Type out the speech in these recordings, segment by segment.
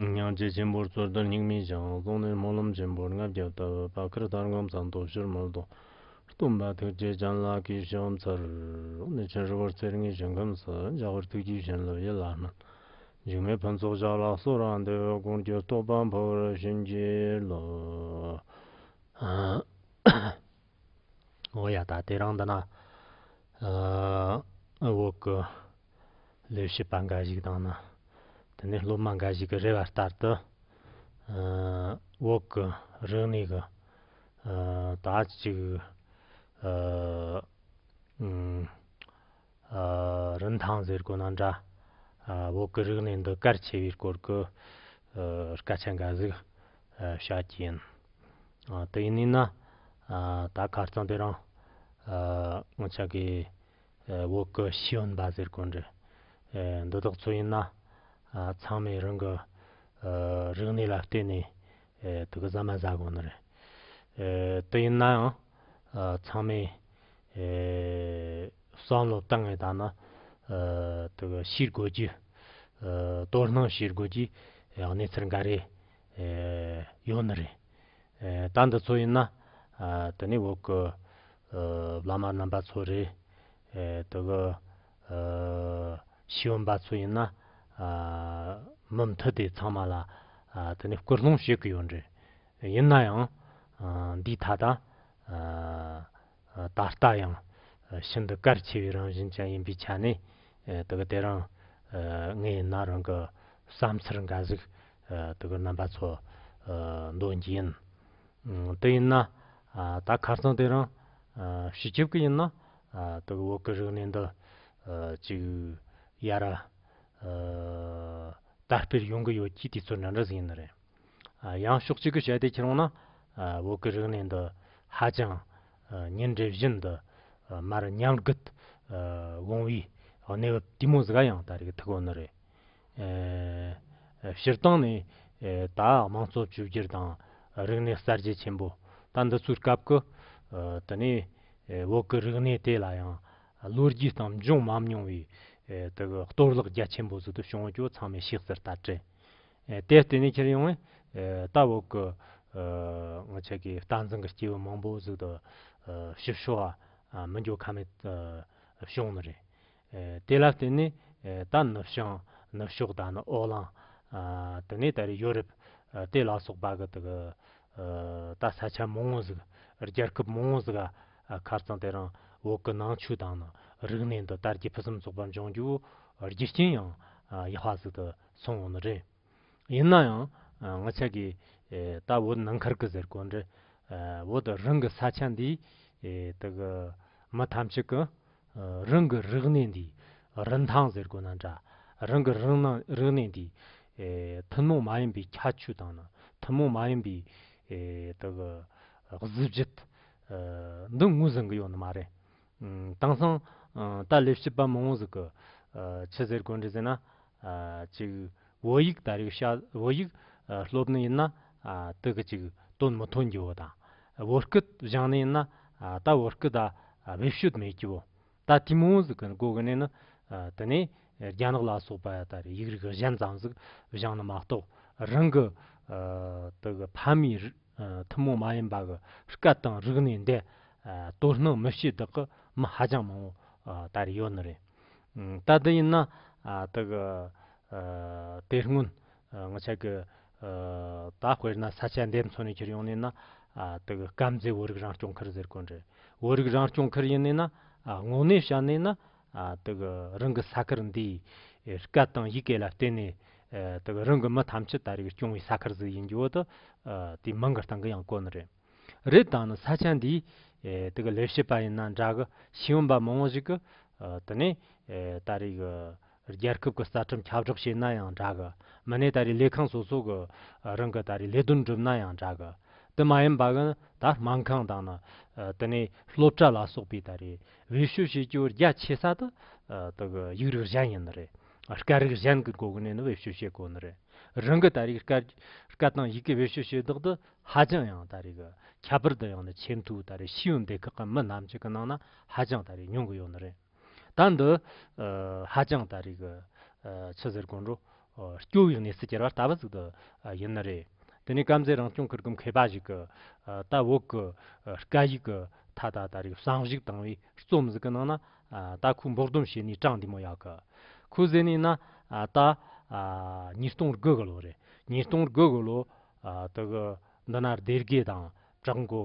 སྙིང་རྗེ་ཆེན་པོར་རྩོལ་བསྟོད་སྙིང་མི་བྱང་གཙུག་ནས་སྨོན་ལམ་ཆེན་པོར་ལྔ་བརྒྱ་བཏབ་བ་ཁར་ལྟར་སྒོམ་ཚངས་སྟོབས་ཞུར་མར་དོ། གཏུམ་པ་ཐུགས་རྗེ་ལྗང་ལགས་ཀྱིས་ཤོག་མཚར་རོགས་ནས་ཆེན་ཧྲིལ་བོར་རྩེར་ལྔའི་ཞིང་ཁམས་སུ་འཇགས་པར་ཐུགས་རྒྱུད་བྱིན་རླབས་ཡིད་ལ་བསྣམས། འཇིགས་མེད་ཕུན་ཚོགས་ཞབས་ལ་གསོལ་ར་འདེབས་འོས་དགོངས་བརྒྱུད་རྟོགས་པ་འཕོ་བར་བྱིན་གྱིས་རློབས། ཡང་ད་ལྟའི་རང་འདི་ན་འོག་གི་ལས་བྱེད་པ་འགའ་ཞིག་དང་ནི་དེ་ནས་སློབ་མ་འགའ་ཞིག་གི་རེ་བ་ལྟར་དུ་འོག་གི་རིག་གནས་ཀྱི་དག་ཅིག་རིན་ཐང་ཟེར་དགོས་ན་འདྲ། བོད་ཀྱི་རིག་གནས་འདི་གལ་ཆེ་བའི་སྐོར་གྱི་སྐད་ཆ་འགའ་ཟིག་བཤད་ཀྱི་ཡིན། དེ་ཡིན་ནའི་ན། ད་གར་རྩོམ་པོ་རང་སྔོན་ཆད་ཀྱི་བོད་ཀྱི་ཤེས་ཡོན་པ་ཟེར་དགོས་འདྲ། འདི་དག་ཚོ་ཡིན་ན་ཚང་མས་རང་གི་རིག་གནས་ལ་བརྟེན་ནས་དུག་གི་ཟ་མ་ཟ་དགོས་ནི་རེད། དེ་ཡིན་ནའང་ཚང་མས་བསམ་བློ་གཏང་ངེས་དང་ན་ཞིག་དགོས་རྒྱུ། དོ་སྣང་བྱེད་དགོས་རྒྱུ་གནས་ཚུལ་འགའ་རེ་ཡོད་ནི་རེད། ད་འདི་ཚོ་ཡིན་ན་དེ་ནས་འོག་གི་བླ་མ་རྣམ་པ་ཚོ་རེད། དེ་གི་ཤེས་ཡོན་པ་ཚོ་ཡིན་ན་མི་མཐུད་དེ་ཚང་མ་ལ་དེ་ནས་སྐུལ་སློང་བྱེད་གི་ཡོད་རེད། ཡིན་ན་ཡང་འདིས་ད་ལྟ། ད་ལྟ་ཡང་ཤིན་ཏུ་གལ་ཆེ་བའི་རང་བཞིན་ཅན་ཡིན་པའི་ཆ་ནས་དེ་ག་དེ་རང་ངའི་ན་རང་གི་བསམ་འཆར་འགའ་ཞིག་དེ་ག་རྣམ་པ་ཚོར་འདོན་གྱི་ཡིན། དེ་ཡིན་ན་ད་ཁ་སང་དེ་རང་ཤི་ཆོག་གི་ཡིན་ན་དེ་ག་འོག་གི་རིག་གནས་འདི་ཅིག་ཡར་དར་སྤེལ་ཡོང་གི་ཡོད་ཀྱི་དུས་ཚོད་འདྲ་འདྲ་ཞིག་ཡིན་ནི་རེད། ཡང་ཕྱོགས་གཅིག་གི་བྱ་དེ་ཁྱེར་འོང་ན། འོག་གི་རིག་གནས་འདི་ཧ་ཅང་ཉིན་རེ་བཞིན་དུ་མར་ཉམས་རྒུད་འོང་བའི་གནས་བབ་ལྟད་མོ་ཟིག་ཡང་ད་རེས་ཀྱི་ཐུགས་དགོངས་འདི་རེད། སྤྱིར་བཏང་ནས་ད་དམངས་གཙོ་བཅོས་བསྒྱུར་དང་རིག་གནས་གསར་བརྗེ་ཆེན་པོ་ད་འདི་ཚོའི་སྐབས་ཀྱི་དེ་ནས་འོག་གི་རིག་གནས་དེ་ལ་ཡང་ལོ་རྒྱུས་སྟངས་འབྱུང་མམ་མྱོང་བའི་གཏོར་བརླག་རྒྱ་ཆེན་པོ་ཟིག་ཏུ་བྱུང་བ་ཀྱོ་ཚང་མས་ཤེས་གསལ་ལྟར་དྲན་ཨེ་དེ་ལྟེ་ནས་ཁྱེར་ཡོང་བས། ད་འོག་གི། ངོ་ཆེ་གེ་རྟགས་འཛིན་གི་སྐྱེས་བུ་མང་པོ་གཟུགས་དང། ཞིབ་ཤོ་བ། མི་འགྱུར་ཁ་མེད། བྱུང་ནི་རེད། དེ་ལ་བརྟེན་ནས། ད་ནུབ་བྱང། ནུབ་ཕྱོགས་ད་ནི་ཨོ་གླང། དེ་ནས་ད་རེ་ཡོ་རིབ། དེ་ལ་སོགས་པ་གི་དེ་གི། ད་ས་ཆ་མང་བོ་ཟིག། རྒྱལ་ཁབ་མང་བོ་ཟིག། ཁར་ཙང་དེ་རང། འོག་གི་ནང་ཆུ་དང། རིག་གནས་འདི་དར་རྒྱས་ཕུན་སུམ་ཚོགས་པ་འབྱུང་རྒྱུ། རྒྱུ་རྐྱེན་ཡང། ཡག་པ་ཟིག་ཏུ། སོང་བ་མ་རེད། ཡིན་ན་ཡང་ང་ཆ་གི་ད་བོད་ནང་ཁར་གི་ཟེར་གོ་འདྲེ་བོད་རང་གི་ས་ཆ་འདི་དག་གི་མི་ཐམས་ཅད་ཀྱི་རང་གི་རིག་གནས་འདི་རིན་ཐང་ཟེར་གོ་ན་འདྲ་རང་གི་རིག་གནས་འདི་ཐུན་མོང་མ་ཡིན་པའི་ཁྱད་ཆོས་དང་ཐུན་མོང་མ་ཡིན་པའི་དག་གཟི་བརྗིད་འདི་ངོས་ཟིན་གྱི་ཡོད་ནི་མ་རེད། དེང་སང། ད་ལེ་བྱིས་པ་མང་བོ་ཟིག་གི། ཆི་ཟེར་དགོས་འདྲི་ཟེར་ན། ཅིག། བོད་ཡིག་དར་ཡུག་ཤ། བོད་ཡིག། སློབ་ནི་ཡིན་ན། དི་གི་ཅིག། དོན་མི་ཐོན་རྒྱུ་བོ་དང། བོད་སྐད་བཞང་ནི་ཡིན་ན། ད་བོད་སྐད་ད། བེད་སྤྱོད་མེད་རྒྱུ་བོ། ད་དེ་མང་བོ་ཟིག་གི་འགོ་གི་ནི་ནི། དི་ནི། རྒྱ་ནག་ལ་སོགས་པ་ལྟར་ཡིག་རིགས་གཞན་ཙམ་ཟིག་བཞེངས་ན་མ་གཏོགས་རང་གི་དག་ཕ་མའི་ཐུན་མོང་མ་ཡིན་པ་གི་སྐད་དང་རིག་གནས་འདི་དོ་སྣང་མི་བྱེད་དག་གི་མི་ཧ་ཅང་མང་བོ་ལྟར་ཡོད་ནི་རེད། ད་དེ་ཡིན་ན་དག་དེ་སྔོན་ང་ཆ་གི་ད་དཔེར་ན་ས་ཆ་འདེབས་མཚོན་ནས་ཁྱེར་ཡོང་ནི་ན་དག་སྐམ་རྫས་བོད་རིགས་རང་སྐྱོང་ཁུལ་ཟེར་དགོས་རེད་བོད་རིགས་རང་སྐྱོང་ཁུལ་ཡིན་ནི་ན་དངོས་གནས་བཤད་ནི་ན་དག་རང་གི་ས་ཁུལ་འདིའི་སྐད་དང་ཡི་གེ་ལ་བརྟེན་ནས་དག་རང་གི་མི་ཐམས་ཅད་ད་རེས་སྐྱོང་བའི་ས་ཁུལ་ཟིག་ཡིན་རྒྱུ་དག་དེའི་མིང་གི་སྟེང་གི་ཡང་བཀོད་ནི་རེད། རེད་ད་ནི་ས་ཆ་འདིའི་དག་ལས་བྱེད་པ་ཡིན་ན་འདྲ་གི་ཤེས་ཡོན་པ་མང་བོ་ཞིག་གིས་དེ་ནས་ད་རེས་གི་རྒྱལ་ཁབ་ཀྱི་རྩ་ཁྲིམས་ཁྱབ་བསྒྲགས་བྱས་ན་ཡང་འདྲ་གི་མི་ནས་ད་རེས་ལས་ཁང་སོ་སོ་གི་རང་གི་ད་རེས་ལས་དོན་བསྒྲུབ་ན་ཡང་འདྲ་གི་དེ་མ་ཡིན་པ་གི་ནི་ད་སྨན་ཁང་དང་ནི་དེ་ནས་སློབ་གྲྭ་ལ་སོགས་པའི་ད་རེས་འོད་ཞུ་བྱེད་རྒྱུ་རྒྱ་ཆེ་ས་དེ་དག་ཡིག་རིགས་གཞན་ཡིན་ནི་རེད། སྐད་རིགས་གཞན་གྱི་སྒོ་ནས་ནི་འོད་ཞུ་བྱེད་དགོས་ནི་རེད། རང་གི་ད་རེས་སྐད་དང་ཡི་གེ་འོད་ཞུ་བྱེད་བདག་དེ་ཧ་ཅང་ཡང་ད་རེས་ཁྱད་པར་དུ་ཡང་ནི་ཆེས་མཐོའི་ད་རེས་ཤེས་ཡོན་སྡེ་ཁག་གི་མི་རྣམས་ཀྱི་ནང་ན་ཧ་ཅང་ད་རེས་ཉུང་གི་ཡོད་ནི་རེད། ད་འདི་ཧ་ཅང་ད་རེས་ཕྱི་ཟེར་དགོངས་འགྲོ་སྐྱོ་བའི་གནས་ཚུལ་གྱི་ར་ལྟ་བུ་ཟིག་ཏུ་ཡིན་ནི་རེད། དེ་ནས་སྐམ་ཟས་རང་སྐྱོང་ཁུལ་གྱི་མཁས་པ་ཞིག་གིས་ད་འོག་གི་སྐད་ཡིག་གི་མཐའ་དག་ད་རེས་གསང་ཞིག་དང་བའི་རྩོམ་ཟིག་གི་ནང་ན་ད་ཁོས་འབོག་སྡོམ་བྱས་ནས་དྲངས་འདུག་མོ་ཡག་གི། ཁོས་ཟེར་ནས་ན་ད་ཉིས་སྟོང་དགུ་གི་ལོ་རེད། ཉིས་སྟོང་དགུ་གི་ལོ་དེ་གི་འདི་ན་སྡེར་དགེ་དང་བྲག་མགོ།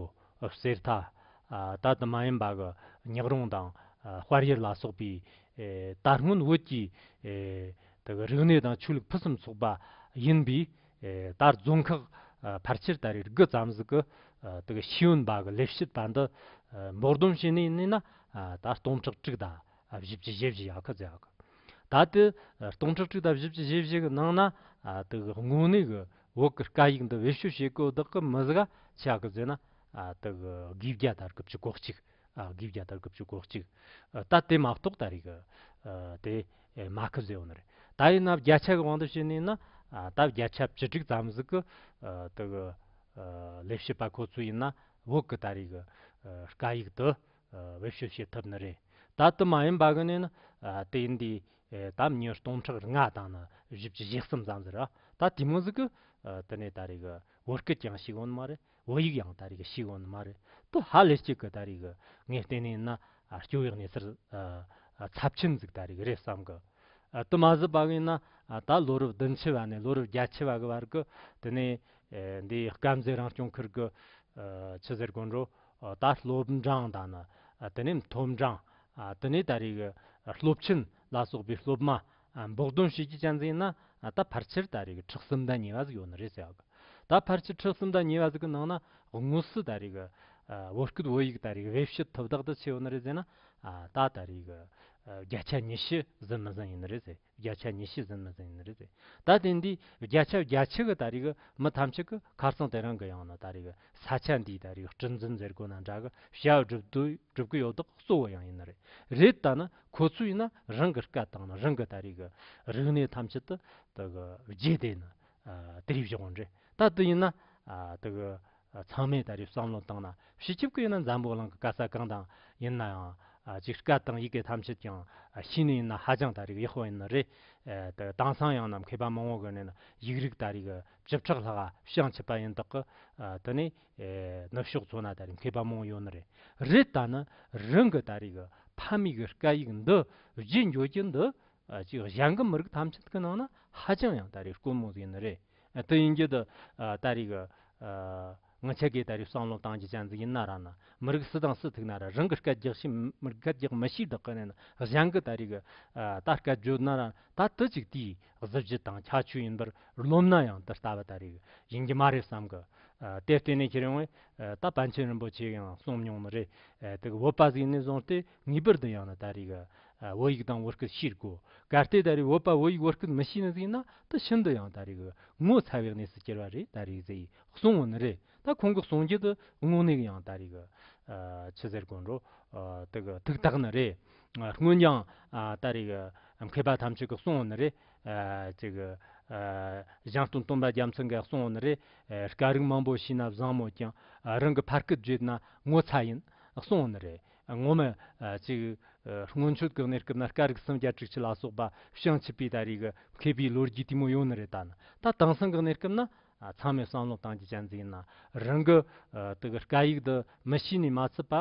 གསེར་རྟ། ད་དུ་མ་ཡིན་པ་གི་ཉག་རོང་དང་དཔལ་ཡུལ་ལ་སོགས་པའི་ད་སྔོན་བོད་ཀྱི་དག་རིག་གནས་དང་ཆོས་ལུགས་ཕུན་སུམ་ཚོགས་པ་ཡིན་པས། ད་རྫོང་ཁག་ཕལ་ཆེར་ད་རེས་དགུ་བརྩམས་གཟིགས་ཀྱི་དག་ཤེས་ཡོན་པ་གི་ལས་བྱེད་པ་འདི་འབོག་སྡོམ་བྱས་ནས་གནས་ན་ད་སྟོང་ཕྲག་དྲུག་ད་བཞི་བཅུ་ཞེ་བཞི་ཡ་ཁ་ཟེར་ཡག་གི་ད་དེ་སྟོང་ཕྲག་དྲུག་ད་བཞི་བཅུ་ཞེ་བཞི་གི་ནང་ན་དག་དངོས་གནས་གི་འོག་གི་དཀའ་ཡིག་འདི་བེད་སྤྱོད་བྱེད་དགོས་དག་གི་མི་གཟའ་ཆ་གི་ཟེར་ན་དག་དགུ་བརྒྱ་དར་དགུ་བཅུ་གོ་གཅིག་དགུ་བརྒྱ་དར་དགུ་བཅུ་གོ་གཅིག་ད་དེ་མ་གཏོགས་ད་རེས་གི་དེ། ཨེ་མ་ཁི་ཟེའུ་ནི་རེད། ད་ཡིན་ནབ་རྒྱ་ཆ་གི་དབང་དུ་བྱས་ནས་ན། ད་རྒྱ་ཆ་བྱི་ཁྲིག་ཙམ་ཟིག་གི། དི་གི། ལས་བྱེད་པ་ཁོ་ཚོ་ཡིན་ན། བོད་གི་ད་རེས་གི། སྐད་ཡིག་དི། བེད་སྤྱོད་བྱེད་ཐུབ་ནི་རེད། ད་དི་མ་ཡིན་པ་གི་ནི་ན། དེ་ཡིན་དུས། ད་མྱི་སྟོང་ཕྲག་རེ་ལྔ་དང་ན་བཞི་བཅུ་བཞི་གསུམ་ཙམ་ཟེར་ར། ད་དེ་མོ་ཟིག་གི། དི་ནས་ད་རེས་གི། བོད་སྐད་ཀྱང་ཤེས་དགོས་ནི་མ་རེད། བོད་ཡིག་ཡང་ད་རེས་ཀྱི་ཞིག་འོ་ན་མ་རེད་དོ་ཧ་ལས་གཅིག་གི་ད་རེས་ཀྱི་ངས་བལྟས་ནས་ན་སྐྱོ་བའི་གནས་ཚུལ་ཚབས་ཆེན་འཛུགས་ད་རེས་ཀྱི་རེད་བསམ་གི་དུ་མ་ཟད་པ་གིན་ན་ད་ལོ་རབས་བདུན་ཕྱི་བ་ནས་ལོ་རབས་བརྒྱད་ཕྱི་བ་གི་བར་གྱི་དེ་ནས་འདི་དཀར་མཛེས་རང་སྐྱོང་ཁུལ་གྱི་ཆུ་ཟེར་དགོན་རུ་ད་སློབ་འབྲང་དང་ནི་དེ་ནས་མཐོ་འབྲང་དེ་ནས་ད་རེས་ཀྱི་སློབ་ཆེན་ལ་སོགས་པའི་སློབ་མ་འབོག་དོན་བྱེད་ཀྱི་གཅན་གཟན་ན་ད་ཕར་ཆེར་ད་རེས་ཀྱི་ཁྲག་སུམ་ཟླ་ཉེ་བ་ཟིག་ཡོད་ནི་རེད་ཟེར་ཡག་གི། ད་ཕར་ཆེར་ཁྲག་སུམ་ཟླ་ཉེ་བ་ཟིག་གི་ནང་ན་དངོས་སུ་ད་རེས་ཀྱི་བོད་སྐད་བོད་ཡིག་ད་རེས་ཀྱི་དབྱེ་བཤད་ཐོབ་དག་ད་ཆེ་ཡོད་ནི་རེད་ཟེར་ན། ད་ད་རེས་ཀྱི་བརྒྱ་ཆ་ཉི་ཤུ་ཟིན་མི་ཟིན་ཡིན་ནི་རེད་ཟེར་བརྒྱ་ཆ་ཉི་ཤུ་ཟིན་མི་ཟིན་ཡིན་ནི་རེད་ཟེར་ད་དེ་འདི་བརྒྱ་ཆ་བརྒྱ་ཆི་གི་ད་རེས་ཀྱི་མི་ཐམས་ཅད་ཀྱི་ཁ་རྩང་དེ་རང་གི་ཡང་ན་ད་རེས་ཀྱི་ས་ཆ་འདིའི་ད་རེས་ཀྱི་སྤྲིན་འཛིན་ཟེར་དགོས་ན་འདྲ་གི་བྱ་བ་སྒྲུབ་དུས་སྒྲུབ་ཀྱི་ཡོད་དག་གཙོ་བོ་ཡང་ཡིན་ནི་རེད་རེད་ད་ནི་ཁོ་ཚོས་ནི་རང་གི་སྐད་དང་རང་གི་ད་རེས་ཀྱི་རིག་གནས་ཐམས་ཅད་དུ་རྗེས་དེད་ནས་དུས་རབས་བཞག་པ་འདྲ། ད་དུས་ཡིན་ན་ཚང་མས་ད་རེས་བསམ་བློ་བཏང་ན་ཕྱི་ཆིབས་ཀྱིས་ཡིན་ན་འཛམ་བུ་གླིང་གི་སྐད་ས་གང་དང་ཡིན་ནའང་ཅིག་སྐད་དང་ཡི་གེ་ཐམས་ཅད་ཀྱང་ཤེས་ནས་ཡིན་ན་ཧ་ཅང་ད་རེས་ཀྱི་ཡག་པོ་ཡིན་ནི་རེད། དེང་སང་ཡང་ནམ་མཁའི་པདྨོ་བ་གོན་ནས་ཡིག་རིགས་ད་རེས་ཀྱི་བཅུ་ཕྲག་ལྷག་ཤིང་ཆིབས་པ་ཡིན་དག་གི་དེ་ནས་ནུབ་ཕྱོགས་མཚོ་ན་ད་རེས་མཁས་པ་མང་ཡོད་ནི་རེད། རེད་ད་ནི་རང་གི་ད་རེས་ཀྱི་ཕ་མེས་ཀྱི་སྐད་ཡིག་འདི་བརྗེད་འགྱོ་རྒྱུ་འདི་ཅིག་གཞན་གྱི་མི་རིགས་ཐམས་ཅད་ཀྱི་ནང་ན་ཧ་ཅང་ཡང་ད་རེས་དཀོན་མོ་ཟིག་ནི་རེད། དེ་ཡིན་རྒྱུ་དེ་ད་རེས་ཀྱི་ང་ཆེ་གེ་ད་རེས་བསམ་བློ་བཏང་རྒྱུ་ཅན་ཟིག་ཡིན་ན་ར་ན་མི་རིགས་སུ་དང་སུ་ཐུག་ན་ར་རང་གི་སྐད་རྒྱག་ཤི་སྐད་རྒྱག་མི་ཤི་དག་གི་ནས་ན་གཞན་གྱི་ད་རེས་ཀྱི་ད་སྐད་བརྗོད་ན་ར་ད་དེ་ཅིག་དེའི་གཟི་བརྗིད་དང་ཁྱད་ཆོས་ཡིན་པར་རློམ་ན་ཡང་འདི་ལྟ་བུ་ལྟར་རིགས་ཡིན་གྱི་མ་རེད་བསམ་གི། དེར་བརྟེན་ནས་ཁྱེད་རང་བས་ད་པཎ་ཆེན་རིན་པོ་ཆེས་ཡང་གསུངས་མྱོང་ནི་རེད་དེ། བོད་པ་ཟིག་ནས་བཟུང་སྟེ་ངེས་པར་དུ་ཡང་ན་ད་རེས་བོད་ཡིག་དང་བོད་སྐད་ཤེས་དགོས། གལ་ཏེ་ད་རེས་བོད་པ་བོད་ཡིག་བོད་སྐད་མི་ཤེས་ནི་ཟིག་ན་ད་ཤིན་ཏུ་ཡང་ད་རེས་ངོ་ཚ་བའི་གནས་སུ་གྱུར་བ་རེད་ད་རེས་ཟིག་གསུངས་བ་ནི་རེད་ད་ཁོང་གི་གསུང་རྒྱུ་དེ་དངོས་གནས་ཡང་ད་རེས་ཕྱི་ཟེར་དགོན་རུ་དེ་གི་ཐུགས་ཐག་ནི་རེད། སྔོན་ཀྱང་ད་རེས་མཁས་པ་ཐམས་ཅད་ཀྱི་གསུང་འོག་ནས་རེད། ཞང་སྟོན་སྟོན་པ་རྒྱ་མཚོ་འགའི་གསུང་འོག་ནས་རེད། སྐད་རིགས་མང་པོ་ཤེས་ན་བཟང་མོད་ཀྱང་རང་གི་ཕ་སྐད་བརྗོད་ན་ངོ་ཚ་ཡིན་གསུང་འོག་ནས་རེད། ངོ་མ་ཅིག་སྔོན་ཆོས་གོས་ནས་སྐབས་ན་སྐད་རིགས་སུམ་བརྒྱ་དྲུག་ཅུ་ལ་སོགས་པ་ཤང་ཆིབས་པའི་ད་རེས་མཁས་པའི་ལོ་རྒྱུས་དེ་མོ་ཡོང་ནི་རེད་ད་ནི་ད་དེང་སང་གི་གནས་སྐབས་ན་ཚང་མས་བསམ་བློ་བཏང་རྒྱུ་གཅན་གཟིགས་ན་རང་གི་དག་སྐད་ཡིག་འདི་མི་ཤེས་ནས་མ་ཚུད་པ་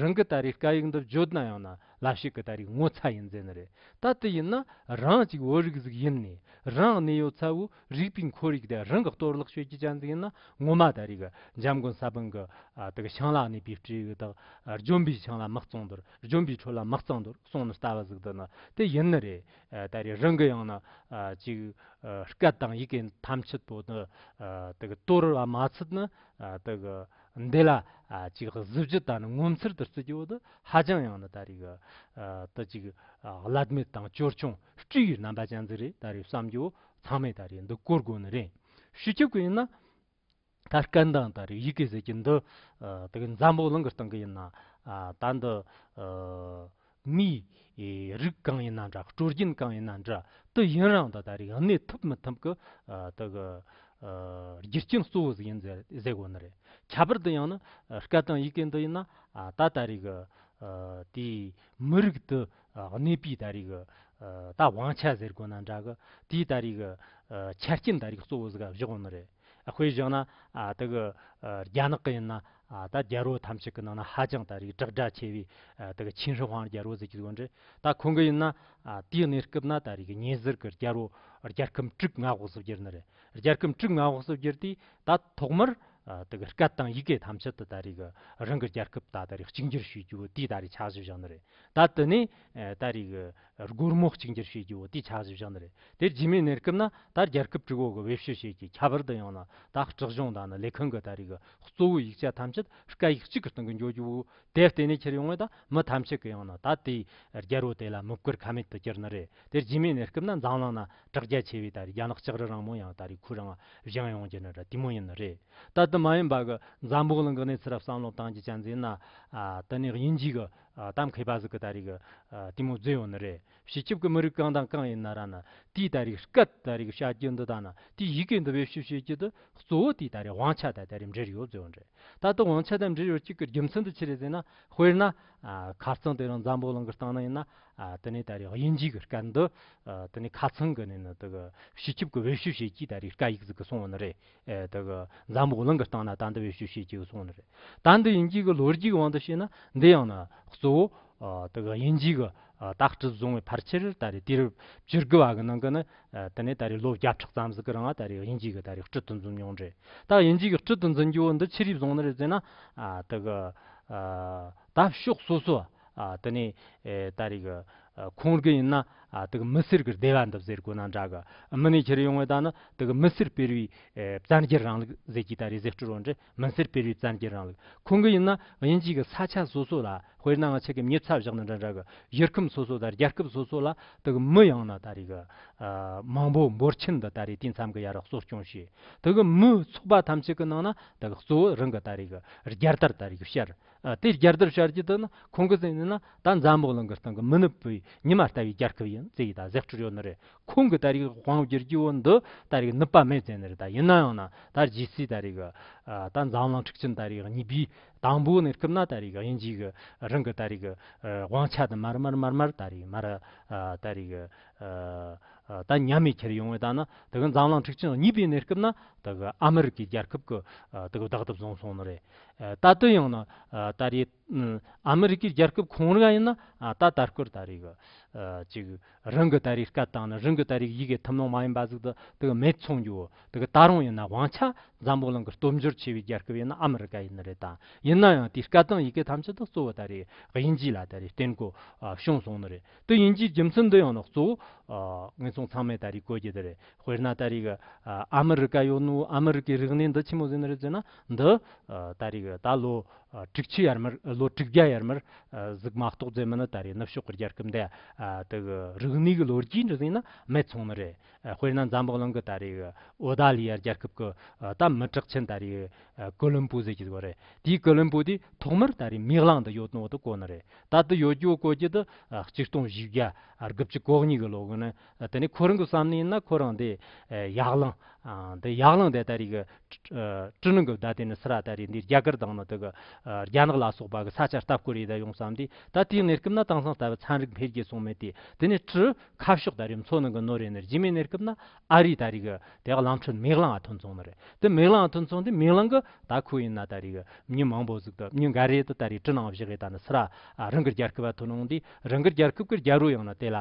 རང་གི་ད་རེས་སྐད་ཡིག་འདི་བརྗོད་ན་ཡང་ན་ལབ་ཤེས་གི་ད་རེས་ངོ་ཚ་ཡིན་རྫས་ནི་རེད་ད་དེ་ཡིན་ན་རང་གཅིག་བོད་རིགས་གཟིགས་ཡིན་ནས་རང་གནས་ཡོད་ཚད་བོད་རིགས་པའི་འཁོར་ཡིག་དེ་རང་གི་གཏོར་བརླག་ཤོད་རྒྱུ་གཅན་གཟིགས་ཡིན་ན་ངོ་མ་ད་རེས་གི་འཇམ་མགོན་ས་བོན་གི་དག་ཤིང་ལ་གནས་པའི་སྤྲེའུ་དག་ལྗོན་པའི་ཆང་ལ་མི་གཙང་དུར་ལྗོན་པའི་ཁྲོད་ལ་མི་གཙང་དུར་སོང་ནི་ལྟ་བ་གཟིགས་འདི་ནི་དེ་ཡིན་ནི་རེད་ད་རེས་རང་གི་ཡང་ན་ཅིག་སྐད་དང་ཡི་གེ་ཐམས་ཅད་དོ་ནི་གཏོར་བ་མ་ཚུད་ན་འདི་ལ་ཅིག་གཟི་བརྗིད་དང་ངོ་མཚར་དུ་བརྩི་རྒྱུ་ནི་ཧ་ཅང་ཡང་ན་ད་རེས་དུ་ཅིག་བླ་མེད་དང་ཅོལ་ཆུང་སྤྲུལ་བའི་རྣམ་པ་ཅན་ཙི་རེད་ད་རེས་བསམ་རྒྱུ་ཚང་མས་ད་རེས་འདི་བཀུར་དགོས་ནི་རེད་ཞུ་ཆོག་གི་ཡིན་ན། ད་སྐད་མདངས་དང་རིགས་ཡིག་གི་ཟེར་གྱི་འདི་དེ་གི་འཛམ་བུ་གླིང་གི་སྟེང་གི་ཡིན་ན་ད་འདི་མིའི་རིགས་གང་ཡིན་ན་འདྲ་སྤྲོ་སྐྱིན་གང་ཡིན་ན་འདྲ་དེ་ཡིན་རང་དང་ད་རིགས་གནས་ཐུབ་མི་ཐུབ་གི་དེ་གི་རྒྱུ་རྐྱེན་གཙོ་བོ་ཟིག་ཡིན་ཟེར་དགོས་ནི་རེད་ཁྱད་པར་དུ་ཡང་ན་སྐད་དང་ཡི་གེ་འདི་ཡིན་ན་ད་ད་རིགས་དེའི་མི་རིགས་དེ་གནས་སྤོས་ད་རེས་ཀྱི། ད་བང་ཆ་ཟེར་དགོས་ན་འདྲ་གི། དེའི་ད་རེས་ཀྱི། ཆ་རྐྱེན་ད་རེས་ཀྱི་གཙོ་བོ་ཟེར་ག་བཞག་ནི་རེད། དཔེ་བཞག་ན། དེ་གི། རྒྱ་ནག་གི་ཡིན་ན། ད་རྒྱལ་རོ་ཐམས་ཅད་ཀྱི་ནང་ན་ཧ་ཅང་ད་རེས་དྲག་སྒྲ་ཆེ་བའི། དེ་གི་ཆིན་ཧྲི་ཧོང་རྒྱལ་རོ་ཟེར་གྱི་འདུག་འདྲ། ད་ཁོང་གི་ཡིན་ན། དེའི་གནས་སྐབས་ན་ད་རེས་ཀྱི་ཉེ་ཟུར་གྱི་རྒྱལ་རོ། རྒྱལ་ཁམས་དྲུག་མངའ་འོག་སུ་གྱུར་ནི་རེད། རྒྱལ་ཁམས་དྲུག་མངའ་འོག་སུ་གྱུར་དུས། ད་ཐོག་མར། དེ་གི་སྐད་དང་ཡི་གེ་ཐམས་ཅད་དུ་ད་རེས་ཀྱི། རང་གི་རྒྱལ་ཁབ་ད་ད་རེས་གཅིག་འགྱུར་ཞུས་རྒྱུ་དེའི་ད་རེས་ཆགས་གཞི་བཞག་ནི་རེད། ད་དུ་ནི་ད་རིག་སྒོར་མོ་གཅིག་འགྱུར་བྱེད་རྒྱུའོ་དེའི་ཆགས་གཞི་བཞག་ན་རེད་དེ་རྗེས་མའི་གནས་སྐབས་ན་ད་རྒྱལ་ཁབ་དྲུག་འོག་གི་བེད་སྤྱོད་བྱེད་ཀྱི་ཁྱད་པར་དུ་ཡང་ན་ད་སྤྲག་གཞུང་དང་ནི་ལས་ཁུངས་ཀྱི་ད་རིག་གཙོ་བོའི་ཡིག་ཆ་ཐམས་ཅད་སྐད་ཡིག་གཅིག་གི་སྟེང་གི་འཇོག་རྒྱུ་བོ་དེ་བརྟེན་ནས་ཁྱེར་ཡོང་བས་ད་མི་ཐམས་ཅད་ཀྱི་ཡང་ན་ད་དེའི་རྒྱལ་པོ་དེ་ལ་མི་བཀུར་ཁ་མེད་དུ་གྱུར་ན་རེད་དེ་རྗེས་མའི་གནས་སྐབས་ན་འཛམ་གླིང་ན་དྲག་རྒྱ་ཆེ་བས་ད་རེས་རྒྱ་ནག་ལྕགས་རི་རང་མོ་ཡང་ད་རེས་ཁུ་རང་བཞེངས་ཡོང་རྒྱུ་ནི་ར་ཏི་མོ་ཡིན་ནི་རེད་ད་དུ་མ་ཡིན་པ་གི་འཛམ་བུ་གླིང་གི་གནས་ཚུལ་རབ་བསམ་བློ་བཏང་རྒྱུ་ཅང་མཛད་ན་དེ་ནས་དབྱིན་ཇིས་གི་གཏམ་མཁས་པ་ཟིག་གི་ད་རེས་གི་ར་ཏི་མོ་བརྫུས་ཡོང་ནི་རེད་བྱེད་སྐྱིབས་གི་མི་རིགས་གང་དང་གང་ཡིན་ན་ར་ན་དེས་ད་རེས་སྐད་ད་རེས་གི་བྱ་རྒྱུ་འདི་དང་ན་དེས་ཡི་གེ་འདི་བེད་སྤྱོད་བྱེད་རྒྱུ་དེ་གཙོ་བོ་དེས་ད་རེས་དབང་ཆ་དེ་ད་རེས་འབྲེལ་ཡོད་བརྫུས་ཡོང་རེད་ད་དུ་དབང་ཆ་དེ་འབྲེལ་ཡོད་གཅིག་གི་རྒྱུ་མཚན་དུ་ཅི་རེད་ཟེར་ན་དཔེར་ན་ཁ་ཚང་དེ་རིང་འཛམ་བུ་གླིང་གི་སྟེང་ན་ཡིན་ན་དེ་ནས་ད་རེས་དབྱིན་ཇིའི་གི་སྐད་འདི་དེ་ནས་ཁ་ཚང་གི་ནས་ནི་དེ་གི་བྱེད་ཁྱིབ་གི་དབལ་བཤུ་བྱེད་ཀྱིས་ད་རེས་སྐད་ཡིག་ཟིག་གི་སོང་བ་ནི་རེད་དེ་གི་འཛམ་བུ་གླིང་གི་སྟེང་ན་ད་འདི་དབལ་བཤུ་བྱེད་ཀྱི་གི་སོང་ནི་རེད་ད་འདི་དབྱིན་ཇིའི་གི་ལོ་རྒྱུས་གི་དབང་དུ་བྱས་ན་འདི་ཡང་ན་གཙོ་བོ་དེ་གི་དབྱིན་ཇིའི་གི་དག་སྤྲི་བཟུང་བའི་ཕར་ཆེར་ད་རེས་དུས་རབས་བཅུ་དགུ་བ་གི་ནང་གི་ནི་དེ་ནས་ད་རེས་ལོ་བརྒྱ་ཕྲག་ཙམ་ཟིག་གི་རིང་ང་ད་རེས་དབྱིན་ཇིའི་གི་ད་རེས་སྤྲི་དུ་འཛུམ་མྱོང་རེད་ད་དབྱིན་ཇིའི་གི་སྤྲི་དུ་འཛིན་རྒྱུ་འདི་ཕྱི་རིས་བཟུང་ནི་རེད་ཟེར་ན་དེ་གི་ད་ཕྱོགས་སོ་སོ་དེ་ནས་ད་རེས་ཁོང་རྒྱུ་ཡིན་ན་དེ་མི་སེར་གྱི་བདེ་བ་འདུག་ཟེར་དགོས་ན་འདྲ་གི་མི་ནས་ཁྱེར་ཡོང་བའི་ད་ནི་དེ་མི་སེར་སྤེལ་བའི་བཙན་རྒྱལ་རང་ལུགས་ཟེར་གྱི་ད་རེས་ཟེར་སྤྲོ་རང་འདྲ་མི་སེར་སྤེལ་བའི་བཙན་རྒྱལ་རང་ལུགས་ཁོང་གི་ཡིན་ན་དབྱིན་ཇིའི་གི་ས་ཆ་སོ་སོ་ལ་དཔེར་ན་ང་ཆེ་གེ་མྱི་ཚ་བཞག་ན་འདྲ་འདྲ་གི་གཞིར་ཁམས་སོ་སོ་དང་རྒྱལ་ཁབ་སོ་སོ་ལ་དེ་གི་མི་ཡང་ན་ད་རེས་གི་མང་པོ་འབོར་ཆེན་འདི་ད་རེས་དེ་མཚམས་གི་ཡ་རགས་གསོ་སྐྱོང་བྱས་དེ་གི་མི་ཚོགས་པ་ཐམས་ཅད་གི་ནང་ན་དེ་ལ་གཙོ་བོ་རང་གི་ད་རེས་ཀྱི་རྒྱལ་དར་ད་རེས་ཀྱི་ཤར། དེའི་རྒྱལ་དར་ཤར་གྱི་དུས་ན་ཁོང་གི་སེམས་ནང་ན་ད་འཛམ་བུ་གླིང་གི་སྟེང་གི་མི་ནུབ་པའི་ཉི་མ་ལྟ་བུའི་རྒྱལ་ཁབ་ཡིན་ཙེ་ཡིས་ད་གཟེགས་ཁྲིར་ཡོད་ནི་རེད། ཁོང་གིས་ད་རེས་ཀྱི་དབང་བསྒྱུར་གྱི་བོད་འདི་ད་རེས་ཀྱི་ནུབ་པ་མེད་ཙེ་ནི་རེད་ད་ཡིན་ན་ཡང་ན་ད་རྗེས་སུ་ད་རེས་ཀྱི་ད་འཛམ་གླིང་འཁྲུག་ཆེན་ད་རེས་ཀྱི་གཉིས་པའི་དང་པོའི་གནས་སྐབས་ན་ད་རེས་ཀྱི་དབྱིན་ཇིས་ཀྱི་རང་གི་ད་རེས་ཀྱི་དབང་ཆ་དེ་མར་མར་མར་མར་ད་རེས་མར་ད་རེས་ཀྱི། ད་མྱ་མི་ཁྱེར་ཡོང་བའི་དང་ན་དག་འཛམ་གླང་འཁྲིག་ཆེན་གཉིས་པའི་གནས་སྐབས་ན་དག་ཨ་མི་རི་ཀའི་རྒྱལ་ཁབ་ཀྱི་དག་བདག་ཐོབ་བཟུང་སོང་ན་རེད་ད་དོན་ཡང་ན་ད་རེད་ཨ་མི་རི་ཀའི་རྒྱལ་ཁབ་གང་རིགས་ཡིན་ན་ད་ད་སྐོར་ད་རེད་ཅིག་རང་གི་ད་རེད་སྐད་དང་ན་རང་གི་ད་རེད་ཡི་གེ་ཐུབ་ནོང་མ་ཡིན་པ་ཟིག་དག་མེད་ཚོང་རྒྱུ་དག་ད་རུང་ཡིན་ན་དབང་ཆ་འཛམ་བུ་གླིང་གི་སྟོབས་འབྱོར་ཆེ་བའི་རྒྱལ་ཁབ་ཡིན་ན་ཨ་མི་རི་ཀ་ཡིན་ན་རེད་ད་ཡིན་ན་ཡང་དེའི་སྐད་དང་ཡི་གེ་ཐམས་ཅད་དག་གཙོ་བོ་ད་རེད་དབྱིན་ཇི་ལ་ད་རེད་བརྟེན་དགོས་བྱུང་སོང་ན་རེད། དེ་ཡིན་གྱི་རྒྱུ་མཚན་འདི་ཡང་ནི་གཙོ་བོ་ངེད་ཚང་ཚང་མས་ད་རེས་བཀོད་རྒྱུ་དེ་རེད་དཔེར་ན་ད་རེས་ཀྱི་ཨ་མི་རི་ཀ་ཡོད་ནོ་ཨ་མི་རི་ཀའི་རིག་གནས་འདི་ཆི་མོ་ཟེར་ནི་རེད་ཟེར་ན་འདི་ད་རེས་ཀྱི་ད་ལོ་དྲུག་ཅུ་ཡར་མར་ལོ་དྲུག་བརྒྱ་ཡར་མར་གཟིགས་མ་གཏོགས་རྫས་མི་ནི་ད་རེས་ནུབ་ཕྱོགས་ཀྱི་རྒྱལ་ཁབ་འདི་དག་གི་རིག་གནས་ཀྱི་ལོ་རྒྱུས་འདི་ཟིན་ན་མེད་ཚོང་ནི་རེད་དཔེར་ན་འཛམ་བུ་གླིང་གི་ད་རེས་ཀྱི་ཨོ་ད་ལི་ཡ་རྒྱལ་ཁབ་ཀྱི་ད་མི་གྲགས་ཆེན་ད་རེས་ཀྱི་ཀོ་ལུམ་པོ་ཟེར་གྱི་འདུག་པ་རེད་དེའི་ཀོ་ལུམ་པོ་དེའི་ཐོག་མར་ད་རེས་མིག་རླངས་འདི་ཡོད་ནོ་དེ་གོ་ནི་རེད། ད་ལྟ་ཡོད་རྒྱུ་བཀོད་རྒྱུ་དེ་གཅིག་སྟོང་བཞི་བརྒྱ་རྒུབ་ཅིག་གོག་གཉིས་ཀྱི་ལོ་གི་ནི་དེ་ནི་ཁོ་རང་གི་བསམ་ནི་ན་ཁོ་རང་དེ་ཡག་ལང་དེ་ཡག་ལང་དེ་ད་རེས་ཀྱི་ཀྲི་ནང་གི་བརྡ་དེ་ནི་སི་ར་ད་རེས་འདིར་རྒྱ་གར་དང་ནི་དེ་གི་རྒྱ་ནག་ལ་སོགས་པ་གི་ས་ཆར་ལྟ་བསྐོར་ཡི་ད་ཡོང་བསམ་དུས་ད་དེའི་གནས་སྐབས་ན་དེང་སང་ལྟ་བུ་ཚན་རིག་འཕེལ་རྒྱས་སོང་མེད་དུས་དེ་ནི་ཀྲི་ཁ་ཕྱོགས་ད་རེས་མཚོ་ནང་གི་ནོར་རེ་ནི་རྗེས་མའི་གནས་སྐབས་ན་ཨ་རིའི་ད་རིག་གི་དེ་ག་ལམ་ཁྲོད་མིག་ལང་ཨ་ཐུང་ཚོང་ནི་རེད་དེ་མིག་ལང་ཨ་ཐུང་ཚོང་དེ་མིག་ལང་གི་ད་ཁུ་ཡིན་ན་ད་རིག་མྱི་མང་པོ་གཟུག་ཏུ་མྱི་འགའ་རེ་དེ་ད་རིག་ཀྲི་ནང་བཞག་རེད་ད་ནི་སི་ར་རང་གི་རྒྱལ་ཁབ་ཨ་ཐུ་ནང་དེ་རང་གི་རྒྱལ་ཁབ་གི་རྒྱལ་རོ་ཡང་ན་དེ་ལ་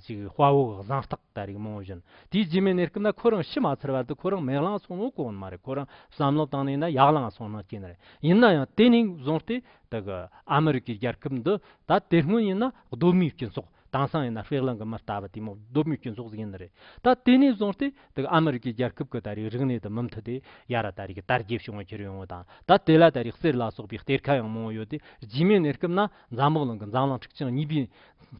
ཅིག་དཔའ་བོ་གི་གཟང་རྟགས་ད་རིག་མང་བོ་བཞིན་དེའི་རྗེས་མའི་གནས་སྐབས་ན་ཁོ་རང་ཤི་མ་ཚར་བར་དུ་ཁོ་རང་མིག་ལང་ཚོང་ནོ་གོ་ནི་མ་རེད་ཁོ་རང་བསམ་བློ་བཏང་ནས་ན་ཡག་ལང་ཨ་ཚོང་ནང་སྐྱེས་ནི་རེད་ཡིན་ན་ཡང་དེ་ནས་བཟུང་སྟེ་དེ་གི་ཨ་མི་རི་ཀའི་རྒྱལ་ཁབ་འདི་ད་དེ་སྔོན་ཡིན་ན་ལྡོམ་མིའི་སྤྱི་ཚོགས་དེང་སང་ཡིན་ན་ཧྥེ་གླིང་གི་མི་ལྟ་བུ་དེ་མོ་ལྡོམ་མིའི་སྤྱི་ཚོགས་ཟིག་ཡིན་ནི་རེད་ད་དེ་ནས་བཟུང་སྟེ་དག་ཨ་མི་རི་ཀའི་རྒྱལ་ཁབ་གི་ད་རེས་རིག་གནས་དུ་མུ་མཐུད་དེ་ཡ་ར་ད་རེས་ཀྱི་དར་རྒྱས་བྱུང་བ་ཁྱེར་ཡོང་བ་དང་ད་དེ་ལ་ད་རེས་གསེར་ལ་སོགས་པའི་གཏེར་ཁ་ཡང་མང་བོ་ཡོད་དེ་རྗེས་མའི་གནས་སྐབས་ན་འཛམ་བུ་གླིང་གི་འཛམ་གླིང་འཁྲིག་ཆེན་གཉིས་པའི་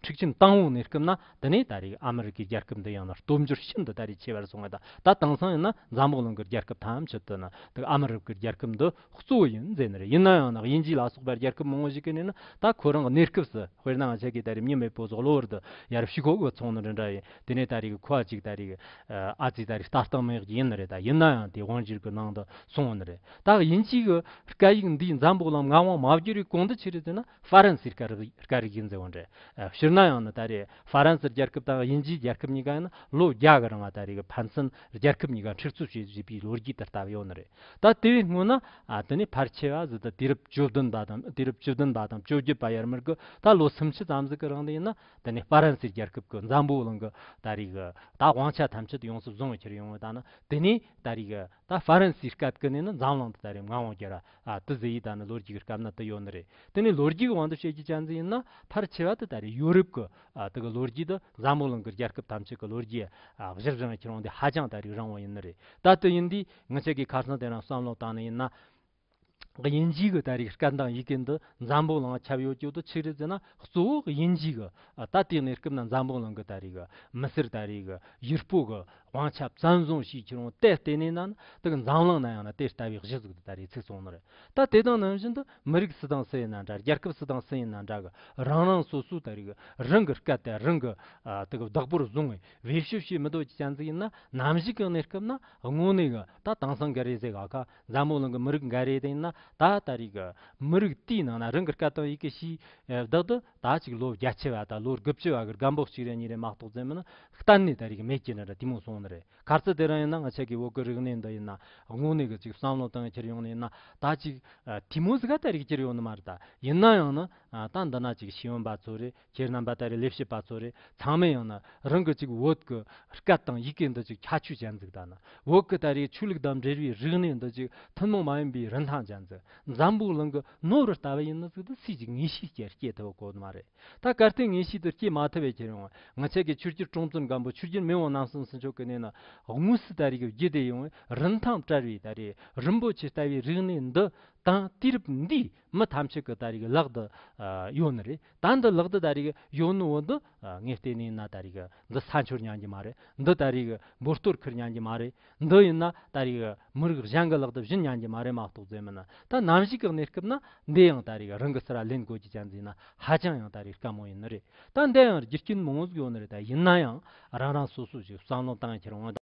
འཁྲིག་ཆེན་དང་བོའི་གནས་སྐབས་ན་དེ་ནས་ད་རེས་ཨ་མི་རི་ཀའི་རྒྱལ་ཁབ་འདི་ཡང་ན་སྟོབས་འབྱོར་ཤིན་ཏུ་ད་རེས་ཆེ་བར་སོང་བ་དང་ད་དེང་སང་ཡིན་ན་འཛམ་བུ་གླིང་གི་རྒྱལ་ཁབ་ཐམས་ཅད་དུ་ནི་དག་ཨ་མི་རི་ཀའི་རྒྱལ་ཁབ་འདི་གཙོ་བོ་ཡིན་མཛད་ནི་རེད་ཡིན་ན་ཡང་ན་དབྱིན་ཇིའི་ལ་སོགས་པར་རྒྱལ་ཁབ་མང་བོ་ཞིག་གི་ནས་ན་ད་ཁོ་རང་གི་གནས་སྐབས་སུ་དཔེར་ན་ང་ཆེ་གེ་ད་རིག་མཉེན་མེད་པོ་ཟོག་ལོ་བར་དུ་ཡར་བཤིག་ཁོག་གི་ཚོང་ནི་འདི་འདྲ་ཡིན་དེ་ནས་ད་རིག་ཁོ་ཨ་ཅིག་ད་རིག་ཨ་ཙི་ད་རིག་ལྟ་སྟངས་མེད་ཀྱི་ཡིན་ནི་རེད་ད་ཡིན་ན་ཡང་དེ་དབང་བཞིར་གི་ནང་དུ་སོང་བ་ནི་རེད་ད་དབྱིན་ཇིའི་གི་སྐད་ཡིག་འདིའི་འཛམ་བུ་གླང་མགའ་དབང་མ་བསྒྱུར་བའི་གོང་དུ་ཆེ་རིག་ཟེར་ན། ཧྥ་རན་སིའི་སྐད་རིགས་ཡིན་ཟེར་བ་འདྲ། ཕྱིར་ན་ཡང་ནི་ད་རེས་ཧྥ་རན་སིར་རྒྱལ་ཁབ་དང་དབྱིན་ཇིའི་རྒྱལ་ཁབ་གཉིས་ཀ་ཡང་ན་ལོ་བརྒྱ་གི་རིང་ལ་ད་རེས་ཀྱི་ཕན་ཚུན་རྒྱལ་ཁབ་གཉིས་ཀ་འཁྲིག་རྩོད་བྱེད་བཞིན་པའི་ལོ་རྒྱུས་དེར་བལྟ་བ་ཡོད་ནི་རེད། ད་དེ་བས་སྔོན་ན་དེ་ནས་ཕར་ཆེ་བ་བཟོ་ད་དུས་རབས་བཅུ་བདུན་པ་དང་དུས་རབས་བཅུ་བདུན་པ་དང་བཅོ་བརྒྱད་པ་ཡར་མར་གྱི་ད་ལོ་སུམ་ཅུ་ཙམ་ཟིག་གི་རིང་དུ་ཡིན་ན་དེ་ནས་ཧྥ་རན་སིའི་རྒྱལ་ཁབ་ཀྱི་འཛམ་བུའི་གླིང་གི་ད་རེས་ཀྱི་ད་དབང་ཆ་ཐམས་ཅད་དུ་ཡོངས་སུ་བཟུང་བའི་ཕྱིར་ཡོང་བ་ད་ནི་དེ་ནས་ད་རེས་ཀྱི་ད་ཧྥ་རན་སིའི་སྐབས་ཀྱི་ནི་ནི་འཛམ་གླིང་འདི་ལྟར་རེམ་ང་འོང་རྒྱུ་ར་དི་ཟི་ཡིས་ད་ནི་ལོ་རྒྱུས་ཀྱི་སྐབས་ན་དི་ཡོད་ནི་རེད་དེ་ནི་ལོ་རྒྱུས་ཀྱི་དབང་དུ་བྱེད་རྒྱུ་ཅན་ཟི་ཡིན་ན་ཕར་ཆེ་བ་དི་ད་རེད་ཡོ་རུབ་ཀྱི་དི་གི་ལོ་རྒྱུས་དི་འཛམ་བུ་གླིང་ཀྱི་རྒྱལ་ཁབ་ཐམས་ཅད་ཀྱི་ལོ་རྒྱུས་གཞིར་བཟུང་ནི་ཁྱེད་རང་དི་ཧ་ཅང་ད་རེད་རང་བ་ཡིན་ནི་རེད་ད་དི་ཡིན་དུས་ངི་ཆད་ཀྱི་ཁ་སང་དེ་རང་བསམ་བློ་བཏང་ནི་ཡིན་ན། དབྱིན་ཇིའི་ལྟ་རིགས་སྐད་མདངས་ཡི་གེ་འདི་འཛམ་བུ་གླིང་ལ་ཁྱབ་ཡོད་ཀྱི་འདུག་ཆིག་རིལ་བཙལ་ན་གཙོ་བོ་དབྱིན་ཇིའི་གི་ད་ལྟའི་གནས་སྐབས་ན་འཛམ་བུ་གླིང་གི་ལྟ་རིགས་མི་སེར་ལྟ་རིགས་ཡུར་སྤོ་གི་དབང་ཆ་བཙན་བཟུང་བྱས་ཁྱེར་འོང་དེ་ལྟེ་གནས་ན་དེ་གི་འཛམ་གླིང་ན་ཡང་ན་དེ་ལྟ་བའི་གཞི་གཟུགས་འདི་ལྟ་རེ་ཚིག་ཚོང་ན་རེ་ད་དེ་དང་ནང་བཞིན་དུ་མི་རིགས་སུ་དང་སུ་ཡིན་ན་འདྲ་རྒྱལ་ཁབ་སུ་དང་སུ་ཡིན་ན་འདྲ་གི་རང་རང་སོ་སོའི་ལྟ་རིགས་རང་གི་སྐད་དེ་རང་གི་དེ་གི་བདག་པོར་བཟུང་བའི་བེད་སྤྱོད་བྱེད་མི་འདོད་ཀྱི་སྐྱ་འཛིགས་ཡིན་ན་ནམ་ཞིག་གི་གནས་སྐབས་ན་དངོས་གནས་གི་ད་དེང་སང་གི་རེ་ཟེ་ག་ག་འཛམ་བུ་གླིང་གི་མི་རིགས་འགའ་རེའི་སྟེང་ན་ད་ལྟ་རིགས་ཀྱི་མི་རིགས་དེའི་ནང་ན་རང་གི་སྐད་དང་ཡི་གེ་ཞིག་བདག་ཏུ་ད་ཅིག་ལོ་བརྒྱ་ཆེ་བ་དང་ལོ་དགུ་བཅུ་བ་གི་སྒམ་པོ་གཅིག་རེ་གཉིས་རེ་མ་གཏོགས་བཙལ་མིན་ན་གཏན་ནས་ད་རིགས་མེད་ཀྱི་རེད་དེ་མོ་གསུངས་ནི་རེད་ག་ཚོད་དེ་རང་ཡིན་ན་ང་ཆེ་གི་འོག་གི་རིག་གནས་འདི་ཡིན་ན་དངོས་གནས་གི་ཅིག་བསམ་བློ་གཏང་ཁྱེར་ཡོང་ནི་ཡིན་ན་ད་ཅིག་དེ་མོ་ཟི་ག་ད་རིགས་ཅིར་ཡོང་ནི་མ་རེད་ད་ཡིན་ན་ཡང་ན་ད་འདི་ན་ཅིག་ཤེས་ཡོན་པ་ཚོ་རེད། ཁྱེད་རྣམ་པ་ལྟ་བུའི་ལས་བྱེད་པ་ཚོ་རེ་ཚང་མས་ཡང་ན་རང་གི་ཅིག་བོད་ཀྱི་སྐད་དང་ཡི་གེ་འདི་ཅིག་ཁྱད་ཆོས་ཅན་ཟིག་ད་ནི་བོད་ཀྱི་ད་རེའི་ཆོས་ལུགས་དང་འབྲེལ་བའི་རིག་གནས་འདི་ཅིག་ཐུན་མོང་མ་ཡིན་པའི་རིན་ཐང་ཅན་ཟིག་འཛམ་བུའི་གླིང་གི་ནོར་བུ་ལྟ་བུ་ཡིན་ནི་ཟིག་ཏུ་སུས་ཀྱིས་ངེས་ཤེས་ཀྱིས་སྐྱེལ་ཐུབ་ཀོ་མ་རེད་ད་གལ་ཏེ་ངེས་ཤེས་དེ་སྐྱེལ་མ་ཐུབ་བས་ཁྱེད་རང་ངི་ཆད་ཀྱི་ཆུ་སྐྱེར་ཀྲོང་ཙུན་སྒམ་པོ་ཆུ་སྐྱེར་མི་དབང་ནམ་སོང་སི་མཆོག་གི་གནས་ན་དངོས་སུ་ད་རེའི་གི་རྒྱུད་སྡེ་ཡོངས་རིན་ཐང་བྲལ་བའི་ད་རེའི་རིན་པོ་ཆེ་ལྟ་བུའི་རིག་གནས་འདི་དང་དུས་རབས་འདིའི་མི་ཐམས་ཅད་ཀྱི་ད་རེས་ཀྱི་ལག་ཏུ་ཡོད་ནི་རེད་ད་འདི་ལག་ཏུ་ད་རེས་ཀྱི་ཡོད་ནི་འོ་འདི་ངས་བལྟས་ནས་ཡིན་ན་ད་རེས་ཀྱི་འདི་ས་འཕྱོར་ཉན་གྱི་མ་རེད་འདི་ད་རེས་ཀྱི་འབུར་སྟོར་ཁིར་ཉན་གྱི་མ་རེད་འདི་ཡིན་ན་ད་རེས་ཀྱི་མི་རིགས་གཞན་གྱི་ལག་ཏུ་བཞིན་ཉན་གྱི་མ་རེད་མ་གཏོགས་རྫས་མིན་ད་ནམ་ཞིག་གི་གནས་སྐབས་ན་འདི་ཡང་ད་རེས་ཀྱི་རང་གི་སི་ར་ལེན་གོ་གྱི་ཅན་འཛིན་ན་ཧ་ཅང་ཡང་ད་རེས་དཀའ་མོ་ཡིན་ནི་རེད་ད་འདི་ཡང་རྒྱུ་རྐྱེན་མང་བོ་ཟིག་ཡོད་ནི་རེད་ད་ཡིན་ན་ཡང་རང་རང་སོ་སོ་ཞིག་བསམ་བློ་བཏང་ཕྱིར་འོ་ད།